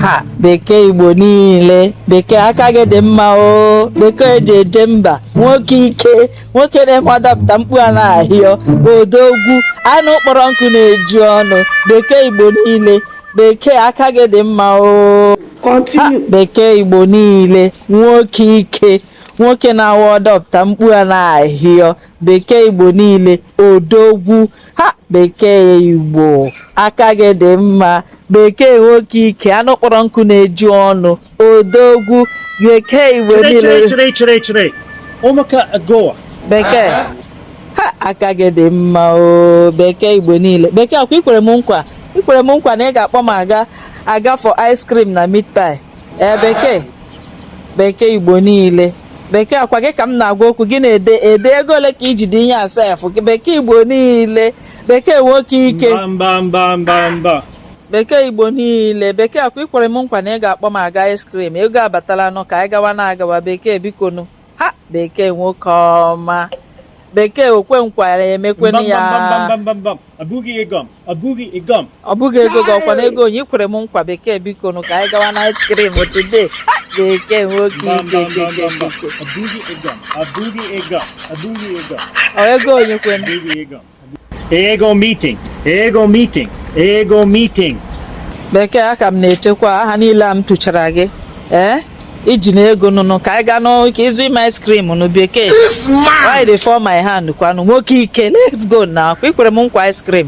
ha bekee igbo niile bekee aka gị dị mma o bekee eji eje mba nwoke ike nwoke na-eme adapụta mkpu a na-ahịọ odogwu anụ kpọrọ nkụ na-eju ọnụ bekee igbo niile bekee aka gị dị mma o ha Continue. bekee igbo niile nwoke ike nwoke na-awa adapụta mkpu a na-ahịọ bekee igbo niile odogwu ha bekee igbo aka gị dị mma bekee nwoke ike anụ kpọrọ nkụ na-eju ọnụ odogwu bekee igbo Chere chere niile chere chere chere. Ụmụka Goa. bekee ha aka gị dị mma o bekee igbo niile bekee ọkwa ikwere m nkwa ikwere m nkwa na ị ga-akpọ m aga for ice cream na meat pie ee bekee bekee igbo niile bekee ọkwa gị ka m na-agwa okwu gị na-ede ede ego ole ka iji dị ihe a sef bekee igbo niile bekee nwoke ike mba mba mba mba bekee igbo niile bekee ọkwa ikwere m nkwa na ị ga-akpọ m aga ice cream ego abatala nụ ka anyị gawa na-agawa bekee bikonu ha bekee nwoke ọma bekee okwe nkwa mekwenu ya ọ bụghị ego ọ bụghị ego ọ bụghị ego gị kwanụ ego onye ikwere m nkwa bekee biko nụ ka anyị gawa na ice cream today bekee nwoke ego onye kwe Ego meeting, ego meeting, ego meeting. Bekee aka m na-echekwa aha niile a m tuchara gị ee eh? iji na ego nụnụ ka anyị gaa nụ ka ị zụị m ice cream nụ bekee why dey fall my hand kwanụ nwoke ike let's go na ọkwa ikwere m nkwa ice cream